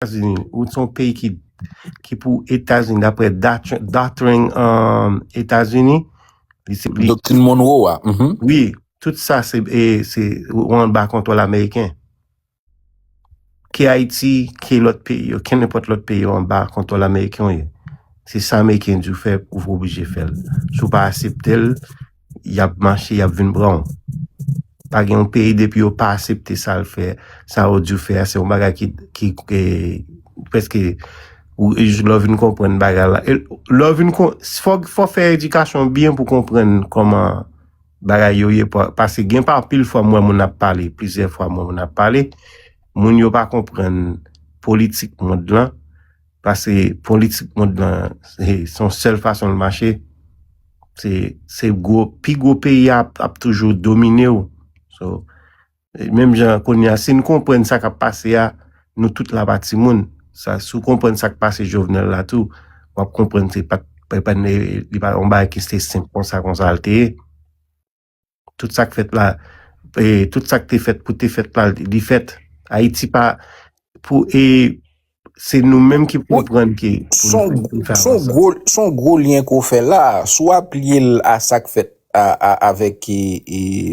Etazini ou son peyi ki ki pou Etazini daprè doctrine um, Etazini li se li Doktrin Monroe a. mhm. oui tout sa se e se ou an ba kontwòl ameriken ke Haiti ke lòt peyi yo ke nenpòt lòt peyi yo an ba kontwòl ameriken yo ye se sa ameriken di ou fè ou oblije fèl si ou pa aseptel yap mache yap vin pranw pa gen yon peyi depi yo pa asepte sal fè sa yo di fè se yon bagay ki ki e, preske ou lò vin konprann bagay la lò vin kon fò fò fè edikasyon byen pou konprann koman bagay yo ye pase gen pa pil fwa mwen moun ap pale plizyè fwa mwen moun ap pale moun yo pa konprann politik mond lan Pase politik mond lan se yon sèl fason l mache. Se se gwo pi gwo peyi a ap toujou domine w. So menm jan kounye a si n konprann sa k ap pase a nou tout la pa timoun. Sa si w konprann sa k pase Jovenel la tou w ap konprann se pa t epa li pa t yon bagay ki se senp konsa konsa l te ye. Tout sak fèt la e tout sak te fèt pou te fèt la li fèt. Ayiti pa pou e se nou menm ki pou konprann ke pou nou fè avanse. Son gwo lyen ke w fè la, si w aplye l a sak fèt avèk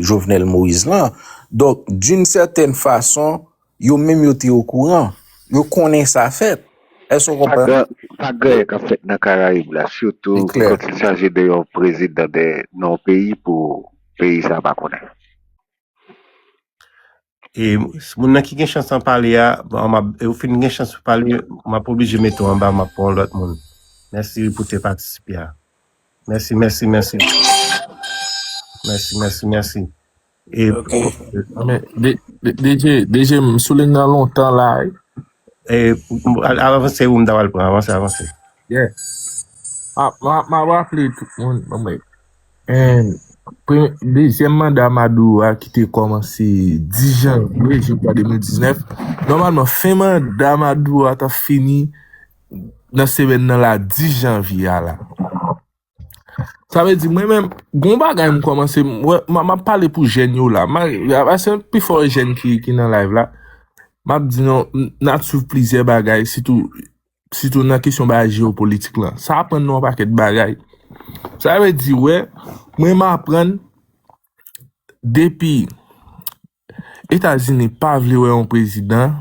Jovenel Moïse lan, donk doun sètèn fason Yo menm yo te okouran. Yo konnen sa fèt. Èske w konprann? Sa gaye k ap fèt nan Karayib la, sitou kòt li chaje de yon prezidan de yon peyi pou peyi sa a pa konnen. E moun nan ki gen chans an pale a, ou fin gen chans pou pale, m ap oblije mete w anba, m ap pran yon lòt moun. Mèsi pou te patisipe a. Mèsi, mèsi, mèsi. Mèsi, mèsi, mèsi. E Ok. Men, D- D- DJ, DJ, m sou ligne nan lontan la. wi. e, al- avanse ou m ta pral pran, avanse, avanse. Yeah. Ah, ma, ma rappelé tout le monde. Bon, mais, euh, pre- deuxième mandat Maduro a ki te kòmanse 10 janvye, je crois, 2019. Normalman, fin mandat Maduro a ta fini nan semèn nan la 10 janvye a la. Sa vle di mwen menm, gon bagay m kòmanse, m ap pale pou jèn yo la, se pi fò jèn ki nan live la, m ap di nou, n ap swiv plizyè bagay, sitou nan kesyon bagay jeopolitik la, sa aprann nou an pakèt bagay. Sa vle di wè, mwen m aprann, depi. Etazini pa vle wè yon prezidan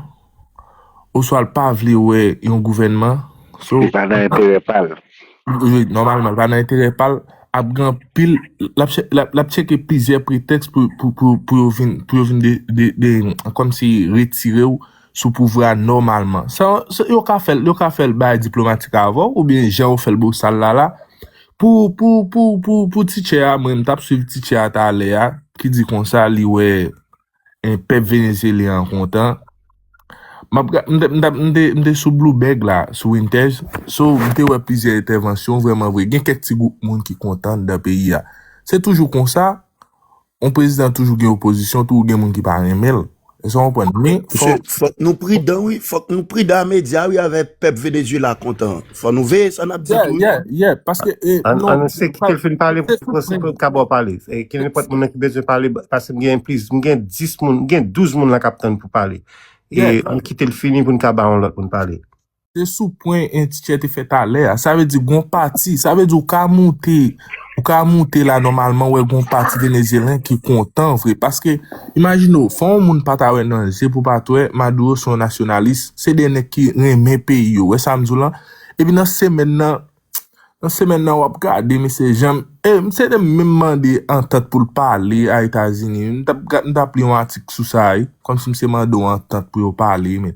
oswa l pa vle wè yon gouvènman. Li pa nan enterè pa l. Nòmalman, li pa nan enterè pa l. Ap gen anpil, l ap tcheke plizyè pretèks pou yo vin, pou yo vin de, de, de, kòmsi retire ou. sou pouvra nòmalman. Sa yo ka fèl, yo ka fèl bay diplomatik avèw ou byen jan yo fèl bosal la la. Pou, pou, pou, pou, pou teacher a, mwen m tap swiv teacher a talè a ki di konsa li wè en pèp Venezyelyen an kontan. Map ga, m te, m te, m te sou Bloubèg la, sou Wintèj, so m te wè plizyè entèvansyon vrèman vre. Gen kèk ti gwoup moun ki kontan anndan peyi a. Se toujou konsa, On prezidan toujou gen opozisyon, toujou gen moun ki pa renmen l. Èske w konprann? Men, fò. Fòk nou pridan wi. Fòk nou pridan a medya wi avè pèp Venezyela kontan an. Fò nou veye sa n ap di tou wi. Yeah, yeah, yeah. Paske, non. An nou se kite l fin pale pou nou se pou kab wè w pale. Ke nenpòt moun nan ki bezwen pale, pase m gen plis, m gen 10 moun, m gen 12 moun la k ap tann pou pale. E an nou kite l fini pou n ka ba yon lòt moun pale. Se sou pwen en teacher te fè talè a. Sa vle di gon pati, sa vle di ou ka moute, ou ka moute la nòmalman wè gon pati Venezyelyen ki kontan vre. Paske, imajine ou, fò yon moun pa ta wè nan je pou pa t wè, Maduro se yon nasyonalis, se de nèg ki renmen peyi yo, wè sa m di w lan? Epi nan semèn nan, Nan semèn nan wap gade mesye janm e misye te menm mande antant pou l pale a etazini wi m tap gad m tap li yon atik sou sa wi kòmsi misye mande w antant pou yo pale men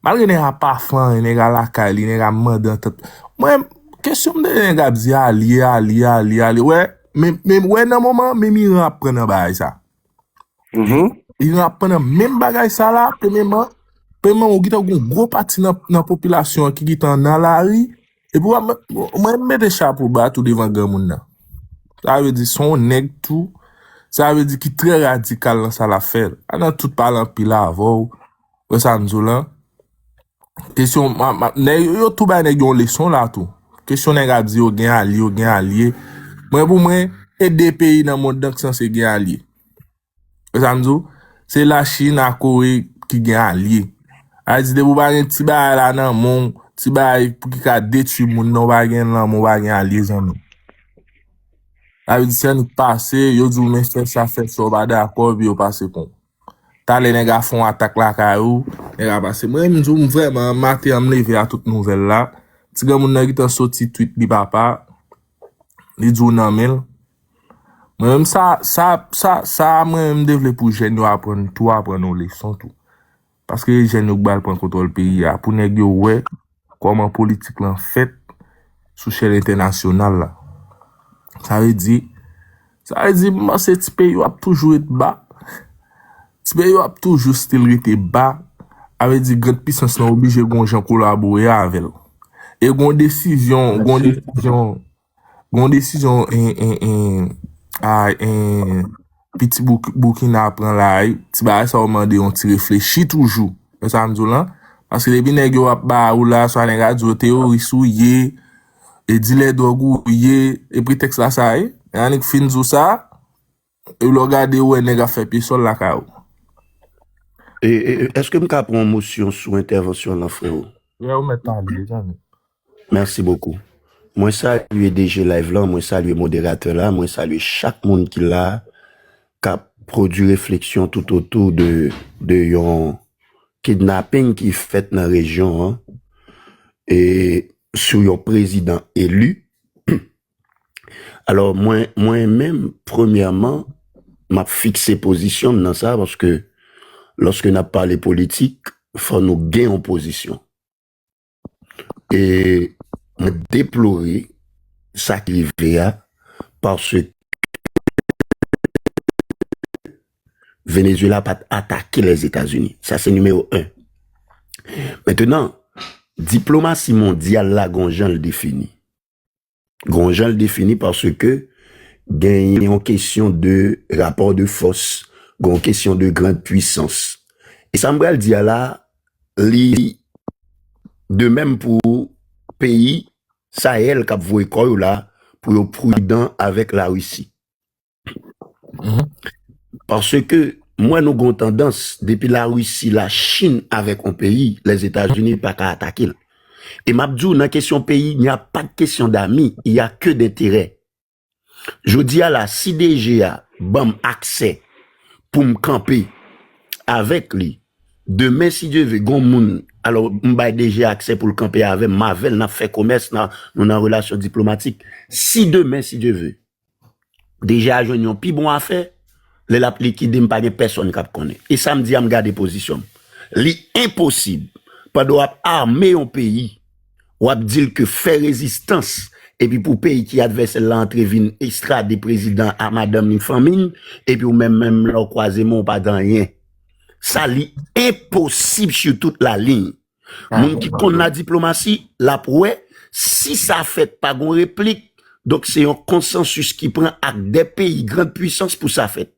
malgre nèg a pa fè anyen nèg a lakay li nèg a mande antant mwen kesyon m tande nèg ap di alye alye alye alye wè men wè nan moman menm iran ap pran nan bagay sa. Yon ap pran nan menm bagay sa la, premyeman, premyeman ou gitan goun gwo pati nan popilasyon an ki gitan nan lari, epi wap mwen, mwen mete chapo ba tou devan gran moun nan. Sa vle di son nèg tou, sa vle di ki trè radikal nan sa lap fè. Anan tout pale anpil avèw. Wè sa m di w lan? Kesyon, nèg yo, yo tou bay nèg yo yon leson la tou. Kesyon nèg ap di yo gen alye, yo gen alye. Mwen pou mwen, se de peyi nan mond lan ki sanse gen alye. Wè sa m di w? Se la Chine a Kore ki gen alye. Al di depi w pa gen ti bagay la nan men w, ti bagay pou ki ka detwi moun nan, w pa gen l nan men w, w pa gen alye zanmi. Sa vle di se annik pase, yo di w men fè sa, fè sa, w pa dakò, epi yo pase kon w. Talè nèg a fon atak lakay ou, nèg a pase. Mwen menm di w vrèman maten an m leve a tout nouvèl la. Ti granmoun nan gentan soti tweet li papa. Li di w nan men l. Mwen menm sa sa sa sa mwen menm m te vle pou jèn yo aprann tou aprann yon leson tou. Paske jèn yo k bal pran kontwòl peyi a pou nèg yo wè. kòman politik lan fèt sou chèn entènasyonal la. Sa vle di, sa vle di m panse ti peyi yo ap toujou ret ba, ti peyi yo ap toujou stil rete ba, a vle di grand pisans lan oblije gon jan kolabore avèl. E gon desizyon, gon desizyon. Gon desizyon piti boukina ap pran la a, ti bagay sa yo mande yon ti reflechi toujou. Wè sa m di w lan? Paske depi nèg yo ap ba ou la, swa nèg a di yo teyoris ou ye, e dilè dwòg ou ye, e pretèks la sa ye? Annik fin di w sa. Epi lè w gade ou wè nèg ap fè pye sòl lakay ou. Eske m ka pran yon mosyon sou entèvansyon lan freo? Yè ou mèt pale deja menm. Merci beaucoup. Mwen salye DG live lan, mwen salye moderatè la, mwen salye chak moun ki la kap pwodwi refleksyon tout otou de yon kidnapping ki fèt nan rejyon an e sou yon prezidan elu. Alò mwen, mwen menm premyèman m ap fikse pozisyon m nan sa paske lòske n ap pale politik fò nou gen yon pozisyon. E mwen deplore sa ki rive a paske Venezuela pa t atake Lèzetazini. Sa se nimewo 1. Mentenan, diplomasi mondyal la gen yon jan l defini. Gon jan l defini paske gen yon kesyon de rapò de fòs, gon kesyon de grand pwisans. E sa m pral di a la, li de menm pou peyi Sahel k ap voye kò yo la pou yo pridan avèk Larisi. Paske m wè nou gon tandans depi la Russie la chine avek yon peyi les etats unis pa ka atake l e map di w nan kesyon peyi il n'y a pas de question d'ami il ya ke denterè jodi a la si DG a banm aksè pou m kanpe avek li demen si Dieu veut gon moun alo m bay DG a aksè pou l kanpe avem m avel nap fè komès nou nan relasyon diplomatik si demen si Dieu veut DG a jwenn yon pi bon afè, lè l ap likide m pa gen pèsonn k ap konnen. E sa m di a m gade pozisyon m. Li enposib pandan w ap ame yon peyi, w ap di l ke fè rezistans epi pou peyi ki advèsè l la antre vin ekstrade prezidan a madanm li, fanmi l, epi ou menm menm lè w kwaze men w pa gen anyen. Sa li enposib su tout la liy. Moun ki konn la diplomasi, l ap wè, si sa fèt pa gon replik, donk se yon konsansis ki pran ak 2 peyi grand pwisans pou sa fèt.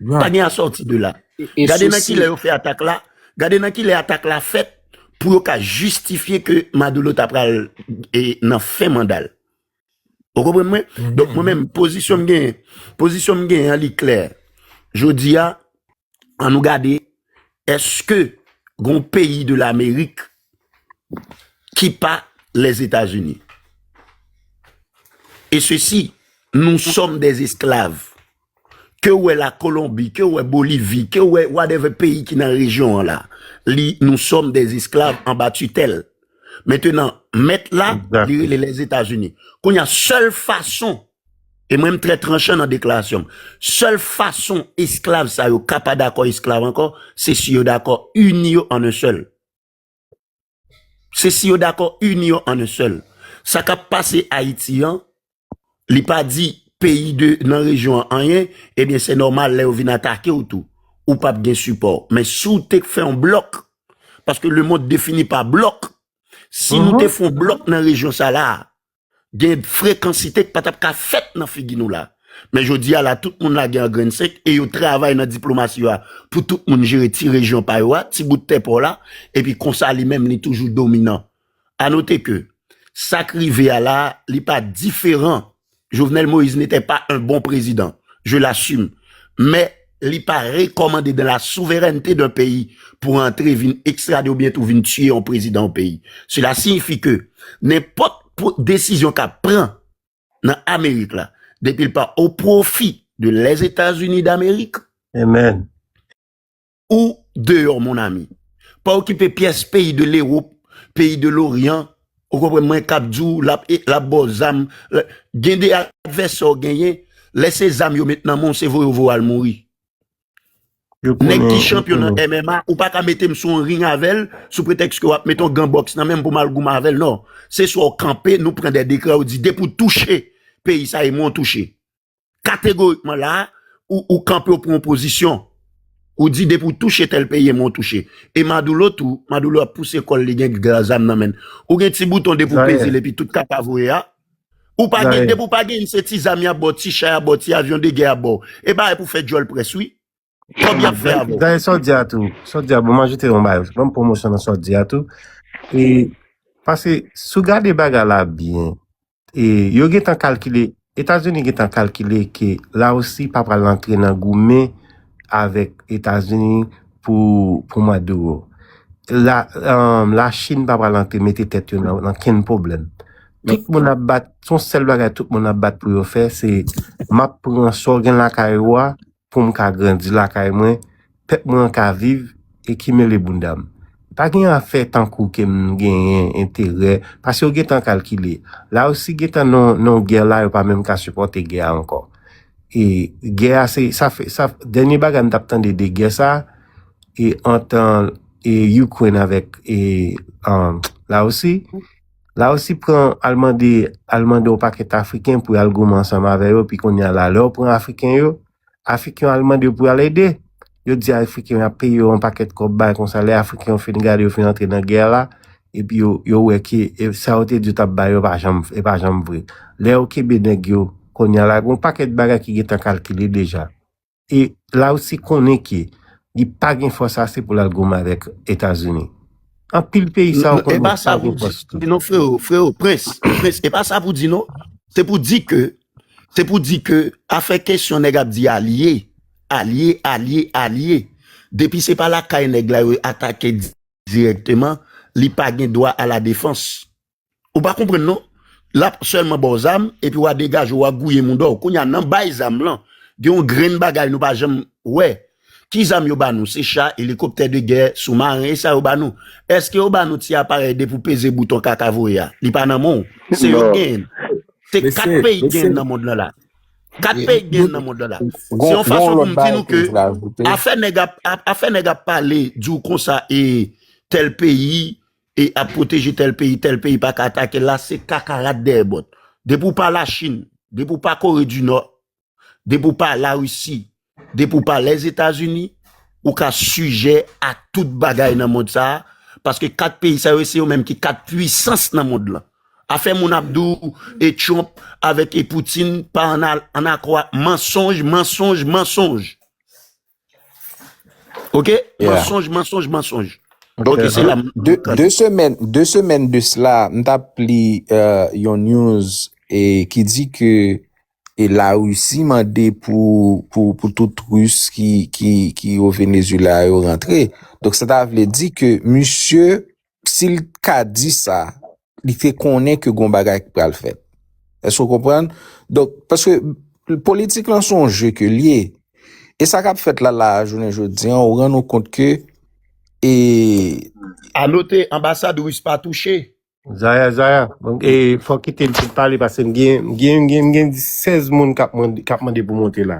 Pa gen asòti de la. Gade nan ki lè yo fè atak la, gade nan ki lè atak la fèt pou yo ka jistifye ke Maduro ta pral nan fen manda l. Ou konprann mwen? Donk mwen menm, pozisyon m genyen, pozisyon m genyen an li klè. Jodi a, an nou gade eske gon peyi de lamerik ki pa les Etats-Unis. E se si nou som des esklav ke ou e la Kolombi, ke ou e Bolivi, ke ou e wadeve peyi ki nan rejyon an la, li nou som des esklav an ba tutel. Metenan, met la, li rele les Etats-Unis. Konya sel fason E mwen m trè tranchan nan deklarasyon m. Sèl fason esklav sa yo ka pa dakò esklav ankò, se si yo dakò ini yo an en sèl. Se si yo dakò ini yo an en sèl. Sa k ap pase Ayiti an, li pa di peyi de nan rejyon an anyen, ebyen se nòmal lè yo vin atake w tou, ou p ap gen sipò. Men si w te k fè yon blòk, paske lemond defini pa blòk, si nou te fè yon blòk nan rejyon sa la a, Gen frekansite k pa tap ka fèt nan figi nou la. Men jodi a la tout moun lage an grenn senk e yo travay nan diplomasi yo a pou tout moun jere ti rejyon pa yo a, ti bout tè pa w la, epi konsa li menm li toujou dominan. A note ke, sa k rive a la a, li pa diferan, Jovenel Moïse n'était pas un bon président, je l'assume, men Li pa rekòmande dan la souverènte dan peyi pou antre vin ekstrade oubyen tou vin tiye yon prezidan yon peyi. Sela siyifi ke nenpòt desizyon k ap pran nan Amerik la, depi l pa o pwofi de Lèzetazini Damerik, ou deyò mon ami. Pa okipe pyès peyi de Lewop, peyi de Loryan, Ou konprann mwen kap di w lap lap ba w zam gen 2 advèsè w genyen lè se zam yo met nan men w se voye w voye w al mouri nèg ki chanpyon nan MMA ou paka mete m sou yon ring avè l sou pretèks ke wap mete yon gan bòks nan men m pou m al goumen avè l non se swa w kanpe nou pran dè dekrè ou di depi w touche peyi sa e mwen w touche. kategorikman la a, ou kanpe ou pran yon pozisyon. Ou di depi ou touche tèl peyi e mwen ou touche. E Madoulo tou, Madoulo ap pouse kòl li gen gla zam nan men l. Ou gen ti bouton depi ou peze l epi tout kap a voye a. Ou pa gen, depi ou pa gen se ti zam y ap ba w, ti cha y ap ba w, ti avyon de gè y ap ba w. E bagay pou fè djòl près wi. Trop byen fè a bro. Dayè sòt di a tou, sòt di a bon m ajoute yon bagay, banm pwomosyon nan sòt di a tou. E paske si w gade bagay la byen, e yo gentan kalkile, Etazini gentan kalkile ke Larisi pa pral antre nan goumen avèk Etazini pou pou Maduro. La um, la Chine pa pral antre mete tèt yo nan nan kenn pwoblèm. Tout moun ap bat, son sèl bagay tout moun ap bat pou yo fè se map pran sa w gen lakay ou a pou m ka grandi lakay mwen, pèp mwen an ka viv e ki mele bounda m. Pa gen afè tankou ke m genyen enterè paske yo gentan kalkile. La Risi gentan nan yon gè la yo pa menm ka sipòte gè a ankò. E gè a se sa fè sa dènye bagay m t ap tande de gè sa e antan e Ukraine avèk e La Risi. La Russie pran al mande al mande yon pakèt Afriken pou al goumen ansanm avè yo, pi kounye a la, lè yo pran Afriken yo, Afriken al mande yo pou al ede. Yo di Afriken yo ap peye yo yon pakèt kòb bay konsa, lè Afriken yo fin gade yo fin antre nan gè la, epi yo yo wè ke e, sa yo te di yo t ap bay yo pa janm e pa janm vre. Lè yo kenbe nèg yo, kounye a la, gen yon pakèt bagay ki gentan kalkile deja. E la Russie konnen ke li pa gen fòs ase pou l al goumen avèk Etazini. Anpil peyi sa yo konnen yo pa gen fòs tou. E pa sa pou di non freo, freo, prens, prens e pa sa pou di non. Se pou di ke, se pou di ke afè kesyon nèg ap di alye, alye, alye, alye, depi se pa lakay nèg la yo atake dirèkteman, li pa gen dwa a la defans. Ou pa konprann non. Lap sèlman baw zam epi wa degajew wa gouye moudaw. Kounya nan bay zam lan gen yon grenn bagay nou pa janm wè. Ki zam yo ba nou? Se cha, elikoptè de gè, sou maren e sa yo ba nou? Eske yo ba nou ti aparèy de pou peze bouton kaka voye a? Li pa nan menw? Se yo k genyenl. Se 4 peyi k genyenl nan mond lan la. 4 peyi k genyenl nan mond lan la. Se yon fason pou m di nou ke afè nèg ap afè nèg ap pale diw konsa e tèl peyi E ap pwoteje tèl peyi, tèl peyi pa ka atake l la, se kaka rat dèyè bòt. Depi w pa Lachin, depi w pa Kore di Nò, depi w pa Larisi, depi w pa Lèzetazini, ou ka sijè a tout bagay nan mond sa a, paske kat peyi sa yo se yo menm ki kat puisans nan mond lan. Afè moun ap di w e Trump avèk e Poutine pa an akò ak mansonj, mansonj, mansonj. Ok mansonj mansonj mansonj. Ok se la. De semèn de semèn de sela m ta pli yon news e ki di ke e la russie mande pou pou tout rus ki ki ki o Venezuela yo rantre. Donk sa ta vle di ke misye si l t ka di sa, li te konnen ke gon bagay k pral fèt. Èske w konprann? Donk, paske politik lan son je ke l ye. E sa k ap fèt la la a jounen jodi an, ou rann ou kont ke e. A note, anbasad ris pa touche. Zaya, Zaya, e fò w kite m fin pale paske m gen, m gen, m gen, m gen 16 moun k ap mande, k ap mande pou monte la.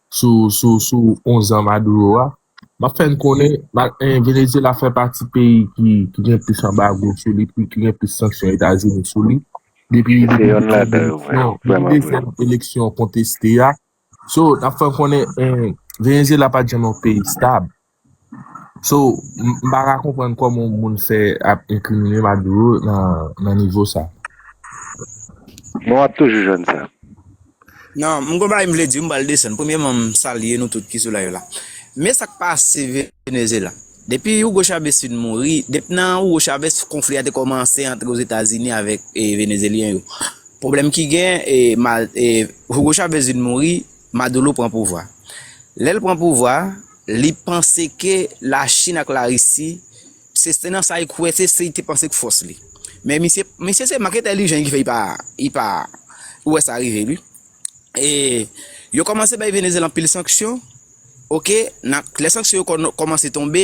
sou onzan Maduro a, m ap fè n konnen Venezyela fè pati peyi ki gen plis anbago sou li, ki gen plis sanksyon Etazini sou li, depi dezyèm eleksyon konteste a. So, n ap fè n konnen Venezyela pa t janm yon peyi stab. So, m pa ka konprann kòman yon moun fè ap enkrimine Maduro nan nivo sa. Men w ap toujou jwenn sa. Non, m gen yon bagay m vle di, m pral desann. Premyeman, m salye nou tout ki sou live la. Men sa k pase Venezyela. Depi Hugo Chavez fin mouri, depi nan Hugo Chavez konfli a te kòmanse antre Ozetazini avèk Venezyelyen yo. Pwoblèm ki gen, Hugo Chavez vin mouri, Maduro pran pouvwa. Lè l pran pouvwa. Li panse ke la chine ak la risi se se nan sa li kwè se se li te panse k fòs li men misye misye se mank entèlijan ki fè li pa li pa wè sa rive li e yo kòmanse bay venezyela anpil sanksyon ok na lè sanksyon yo kòmanse tonbe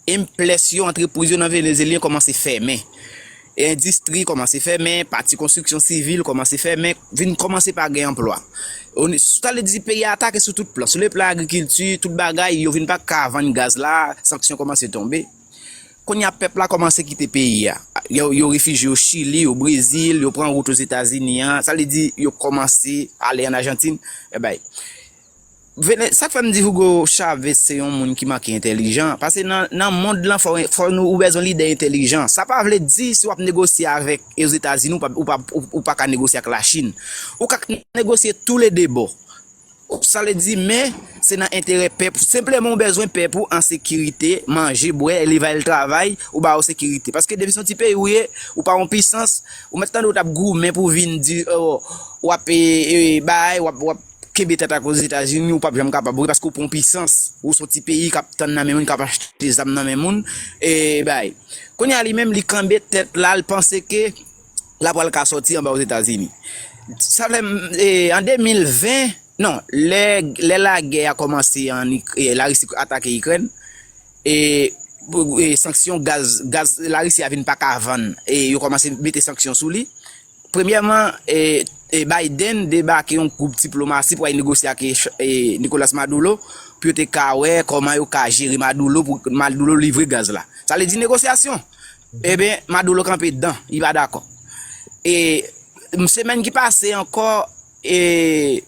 enplès yo antrepriz yo nan venezyelyen kòmanse fèmen Endistri kòmanse fèmen, pati konstriksyon sivil kòmanse fèmen, vin kòmanse pa gen anplwa. Sa vle di peyi a atake sou tout plan, sou le plan agrikilti, tout bagay, yo vin pa ka vann gaz la, sanksyon kòmanse tonbe. Kounye a pèp la kòmanse kite peyi a. Yo refijye o Chili, o Brezil, yo pran wout Ozetazini an, sa vle di yo kòmanse ale an Ajantin, èbèy. Vene, sak fèm di Hugo Chavez se yon moun ki manke entèlijan, pase nan nan mond lan fò fò nou ou bezwen lidè entèlijan, sa pa vle di si wap negosye avèk ozetazini ou pa ou pa ou paka negosye ak lachin, ou ka k negosye tou le 2 bò, sa vle di men se nan enterè pèp ou, senpleman ou bezwen pèp ou an sekirite, manje, bwè, li va al travay, ou ba yo sekirite, paske depi son ti peyi ou ye, ou pa yon pisans, ou mèt tande ou tap goumen pou vin di oo wap ee bay wap wap. kenbe tèt ak ozetazini ou pap janm kapab ok paske ou pa yon pisans ou son ti peyi kap tann nan men moun kap achte zam nan men moun e bay kounye a li menm li kenbe tèt la li panse ke la pral ka sòti anba ozetazini sa fè an 2020 non lè lagè a kòmanse la risi atake ikrèn e sanksyon gaz la risi a vin paka vann e yo kòmanse mete sanksyon sou li. Premyèman, Biden debake yon gwoup diplomasi pou al negosye ak Nicolas Maduro pou yo te ka wè kòman yo ka jere Maduro pou Maduro livre gaz la. Sa vle di negosyasyon. Eben, Maduro kanpe dan, li pa dakò. E semèn ki pase ankò e.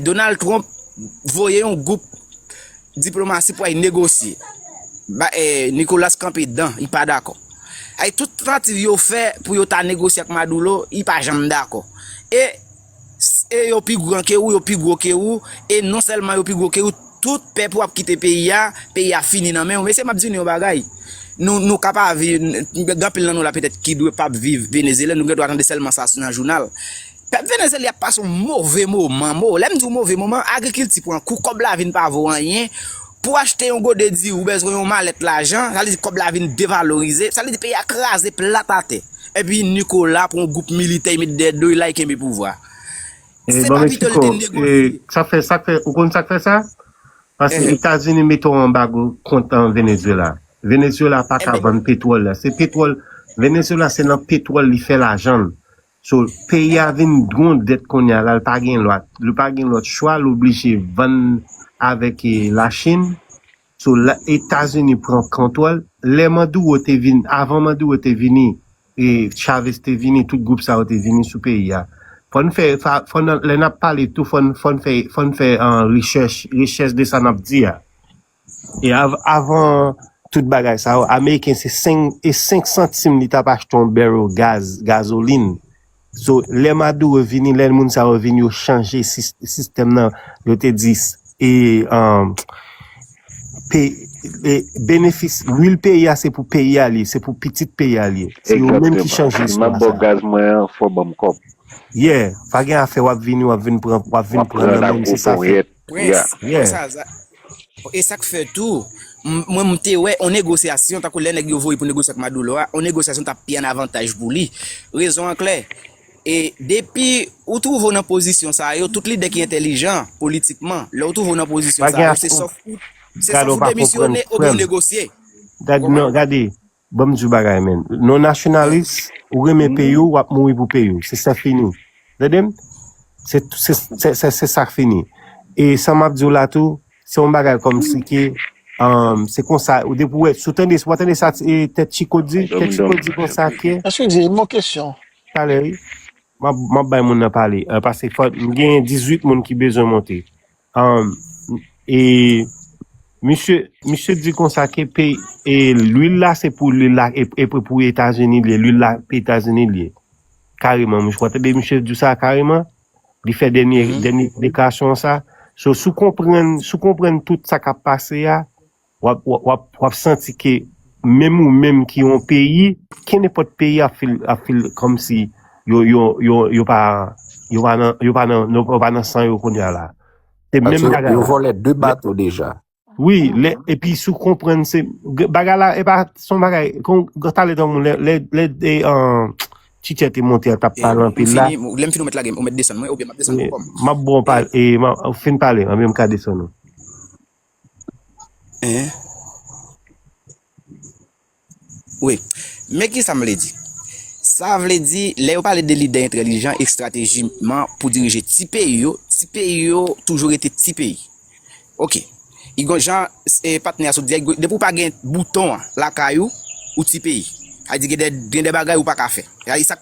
Donald Trump voye yon gwoup diplomasi pou al negosye. Nicolas kanpe dan, li pa dakò. Ay tout tantativ yo fè pou yo ta negosye ak Maduro, li pa janm dakò. E yo pi gran ke ou, yo pi gwo ke ou, e non sèlman yo pi gwo ke ou, tout pèp ou ap kite peyi a, peyi a fini nan men ou. Mesye m ap di nou yon bagay, nou ka pa viv, gen anpil nan nou la petèt ki dwe pa viv Venezyela, nou gen dwa tande sèlman sa nan jounal. Pèp Venezyelyen ap pase yon move moman, mo, lè m di w move moman, agrikilti pran kou, kòb la vin pa vo anyen, pou achte yon gode diri ou bezwen yon malèt lajan, sa vle di kòb la vin devalorize, sa vle di peyi a kraze plat atè, epi Nicolas pran yon gwoup militè li met dèyè do li la li kenbe pouvwa a. Se pa pito li te negosye. Sak fè, sak fè, ou konn sak fè sa? Paske Etazini mete yon anbago kont Venezuela. Venezuela pa ka vann petwòl la. Se petwòl, Venezuela se nan petwòl li fè lajan l. So peyi a vin dron dèt kounya la l pa gen lwa l pa gen lòt chwa l oblije vann avèk e lachin so la etazini pran kontwòl lè maduro te vin avan maduro te vini e chavez te vini tout gwoup sa yo te vini sou peyi a fò n fè fa fò n lè n ap pale tou fò n fò n fè fò n fè an rechèch rechèch de sa n ap di a. E avan tout bagay sa yo, ameriken se 5 e 5 santim li tap achte yon barrel gaz, gazolin. So lè Maduro vini, lè moun sa yo vini yo chanje sistèm nan, yo te di e pe e benefis lwil peyi a se pou peyi a li ye, se pou pitit peyi a li ye. Se yo menm ki chanje istwa sa. Exactement. Si map baw gaz mwen an, fò banm kòb. Yeah, pa gen afè wap vini wap vin pran wap vin pran nan menm se sa fèt. Prince, mwen sa a za. E sa k fè tou, mwen m te wè yon negosyasyon, tankou lè nèg yo voye pou negosye ak Maduro a, yon negosyasyon t ap pi an avantaj pou li. Rezon an klè, e depi ou twouve w nan pozisyon sa yo, tout lidè ki entèlijan politikman, lè w twouve w nan pozisyon sa yo, se sòf ou demisyone oubyen ou negosye. Ou konprann? Gade, Banm diw bagay menn non nasyonalist ou renmen peyiw wap mouri pou peyiw se sè fini tandem se se se sak fini e sa map diw la tou se yon bagay kòm si ke an se konsa ou depi wè sou tande wap tande sa tèt chiko di tèt chiko di konsa ke Eske di yon kesyon. Talè wi map map bay moun nan pale paske fò m gen 18 moun ki bezwen monte. E misye misye di konsa ke pe e lwil la se pou lwil la e e pou pou Etazini li ye, lwil la pou Etazini li ye. Kareman, mwen tande misye di sa kareman. Li fè dènye dènye deklarasyon sa. So sou konprann sou konprann tout sa k'ap pase a, Wap santi ke menm ou menm ki yon peyi, kenenpòt peyi ap feel kòmsi yo pa nan san yo kounya la. Yo vòlè 2 bato deja. Wi, epi sou konprann se, bagay la e pa son bagay, kon tale dan moun lè de an chichè te monte a tap pale anpil la. Lè m fini ou mèt lage m, ou mèt desann mwen oubyen map desann ou pòm. Map bon pale, fin pale, anben m ka desann ou. Men ki sa m vle di. Sa vle di, lè yo pale de lidè entèlijan estratejikman pou dirije ti peyi yo, ti peyi yo toujou rete ti peyi. Ok, e gon jan patnè a sot di a, depi ou pa gen bouton an lakay ou, ou ti peyi. Sa vle di gen de bagay ou pa ka fè.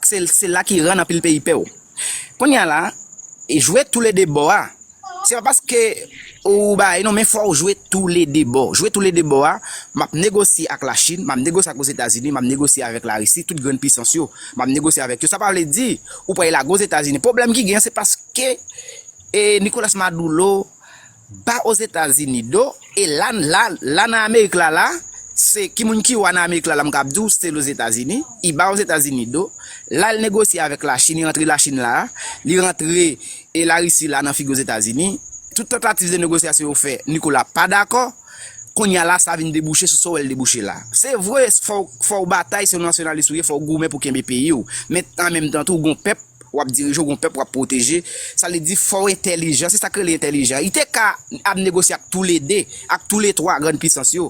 Se la ki rann anpil peyi pè ou. Kounye a la, jwe tou le 2 bò a. Se pa paske ou bagay non men fò ou jwe tou le 2 bò. Jwe tou le 2 bò a, map negosye ak la Chine, map negosye ak Ozetazini, map negosye avèk la Risi, tout grenn pisans yo, map negosye avèk yo. Sa pa vle di ou pral lage Ozetazini. Pwoblèm ki gen an se paske e Nicolas Maduro ba Ozetazini do e la la la nan Amerik la la se ki moun ki wa nan Amerik la la m kab di w se Lozetazini. I ba Ozetazini do, la li negosye avèk la Chine, li rantre la Chine la a, li rantre E larisi la nan figi ozetazini, tout tantativ de negosyasyon yo fè Nikola pa dakò, kounya la sa vin debouche sou sa w wè l debouche la. Se vre fò w batay si w nasyonalis ou ye fò w goumen pou kenbe peyi w, men an menm tan tou w gon pèp w ap dirije w gon pèp w ap pwoteje, sa vle di fò w entèlijan, se sa k rele entèlijan. Li te ka ap negosye ak toulede, ak toule twa grann pisans yo.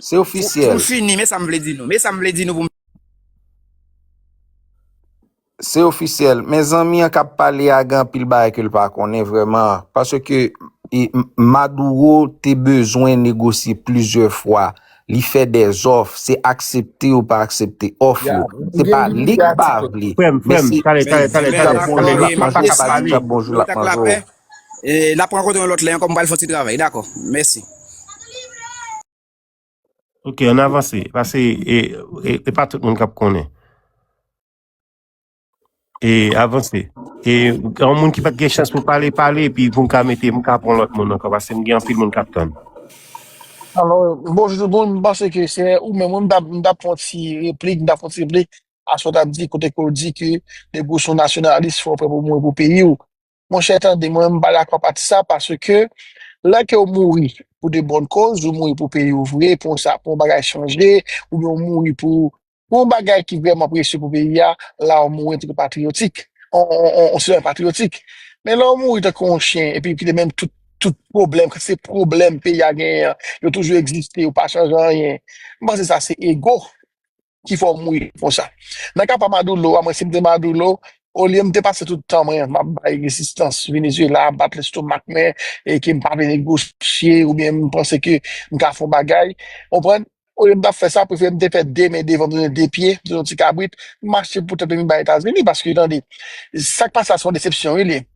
Se Pou ofisyèl. n fini, men sa m vle di nou. Men sa m vle di nou pou m. Se ofisyèl. Men zanmi an k ap pale a gen anpil bagay ke l pa konnen vrèman. Paske Maduro te bezwen negosye plizyè fwa. Li fè dè zòf. Se aksepte ou pa aksepte òf yo. Se pa li k pa vle. Men se Di k ap bonjou l ap manje w. Di k ap bonjou l ap manje w. Eh, nap rankontre yon lòt lè ankò, m pral fon ti travay, dakò. Mèsi. Ok, an avanse. Pase, e, e, e pa tout moun kap konnen. E, avanse. E, yon moun ki pat gen chans pou pale, pale, epi pou m ka mete, m ka pran lòt moun ankò, pase m gen anpil moun kap tann. Alo, bonjou tout moun, m panse ke se ou menm, wi, m ta, m ta pran ti replik, m ta pran ti replik a sa w tap di kote ke w di ke depi w son nasyonalis fò w prè pou w mouri pou peyi w. Monchè tande mwen mpa dakò pati sa paske lè ke ou mouri pou de bòn koz ou mouri pou peyi ou vre pou yon sa pou yon bagay chanje oubyen ou mouri pou pou yon bagay ki vrèman presye pou peyi a la ou mouri antanke patriyotik on on on on sitwayen patriyotik men lè ou mouri tankou yon chen epi kite menm tout tout pwoblèm kantite de pwoblèm peyi a genyen an yo toujou egziste yo pa chanje anyen mpanse sa se ego. ki fè w mouye konsa. Nan ka pa Madoulo a, mwen si m te Madoulo, olye m te pase tout tan mwen m ap bay rezistans Venezyela, bat lestomak mwen e ke m pa vle negosye oubyen m panse ke m ka fè yon bagay, ou konprann, olye m ta fè sa, prefere m te fè de men devan m tounen de pye, m tounen yon ti kabrit, m mache pou tèt mwen m bay Etazini paske tande, sa k pase la se yon desepsyon wi li ye.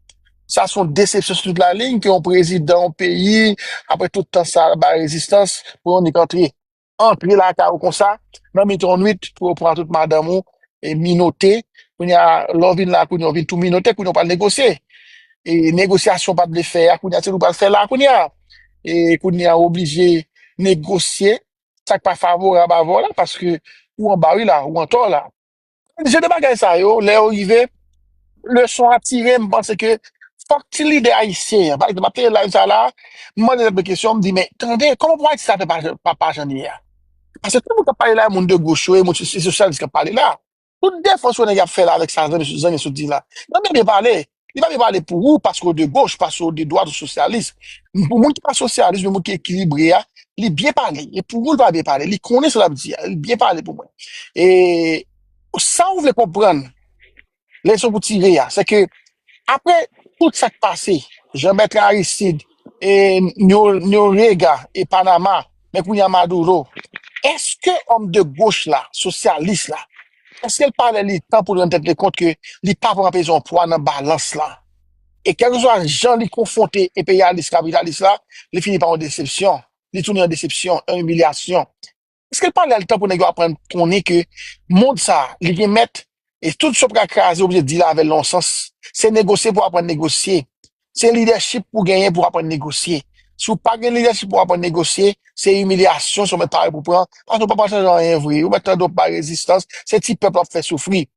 Sa se yon desepsyon sou tout laliy ke yon prezidan yon peyi apre tout tan sa a l ap bay rezistans pou yon nèg antre. antre lakay ou konsa nan mitan yon nwit pou yo pran tout madanm ou e minote kounye a lè w vin la kounye a ou vin tou minote kounye a ou pral negosye e negosyasyon ou pa t vle fè a kounye a se li w pral fè la kounye a e kounye a ou oblije negosye sa k pa favorab avè w la paske ou anba wi la ou antò la. Je de bagay sa yo, lè yo rive, leson an tire, m panse ke fòk ti lidè ayisyen an, pa egzanp, m ap tande live sa la, m mande tèt mwen kesyon, m di, men, tande, kòman pou Ayiti sa fè pa jan pa pa jan li ye a? Pase tout moun k ap pale la, moun de goch yo e moun se sosyalis k ap pale la. Tout defans yo nèg ap fè la avèk sa zanmi zanmi sot di la. Yo byen byen pale. Li pa byen pale pou ou paske ou de goch, paske ou de dwat, ou sosyalis. Men pou moun ki pa sosyalis, men moun ki ekilibre a, li byen pale. E pou ou li pa byen pale. Li konnen sa l ap di a. Li byen pale pou mwen. E sa ou vle konprann, leson pou tire a, se ke apre tout sa k pase, Jean-Bertrand Aristide, e Noriega, e Panama, Men kounye a Maduro, eske òm de goch la, sosyalis la, eske l pa lè li tan pou l rann tèt li kont ke li pa pran pezon pwa nan balans la? E kèlkeswa jan li konfwonte enperyalis kapitalis la, li fini pa yon desepsyon. Li tounen yon desepsyon, yon imilyasyon. Eske l pa lè l tan pou nèg yo aprann konnen ke mond sa a, li gen mèt, E tout sa w pral kraze, w oblije dil avè l nan yon sans. Se negosye pou w aprann negosye. Se lidèchip pou w genyen pou w aprann negosye. Si w pa gen lidèchip pou w aprann negosye, se imilyasyon, se w mèt pare pou w pran. Paske w pa pral chanje anyen vre. Ou mèt tande w pa rezistans. Se ti pèp la w ap fè soufri.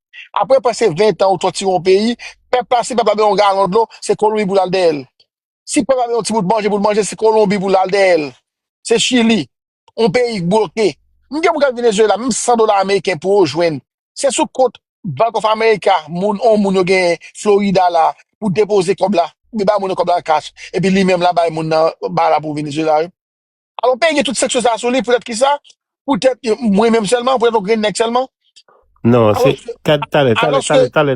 Apre prèske ventan ou tòtire yon peyi, pèp la, si pèp la bezwen yon galon dlo, se kolonbi pou l al dèyè l. Si Panama yon ti bout manje pou l manje, se Kolonbi pou l al dèyè l. Se Chili, yon peyi k bloke. M gen pou gad Venezuela, menm 100 dola ameriken pou yo jwenn. Se sou kont Bank of America moun yon moun yo genyen Florida la pou depoze kòb la. Li bay moun nan kòb la cash, epi li menm la bay moun nan ba la pou Venezuela yo. Alò peyi gen tout seksyon sa a sou li poutèt ki sa? Poutèt mwen menm sèlman, poutèt yon grenn nèg sèlman? Non, se, Alòske, kad, talè, talè, talè, alòske, talè.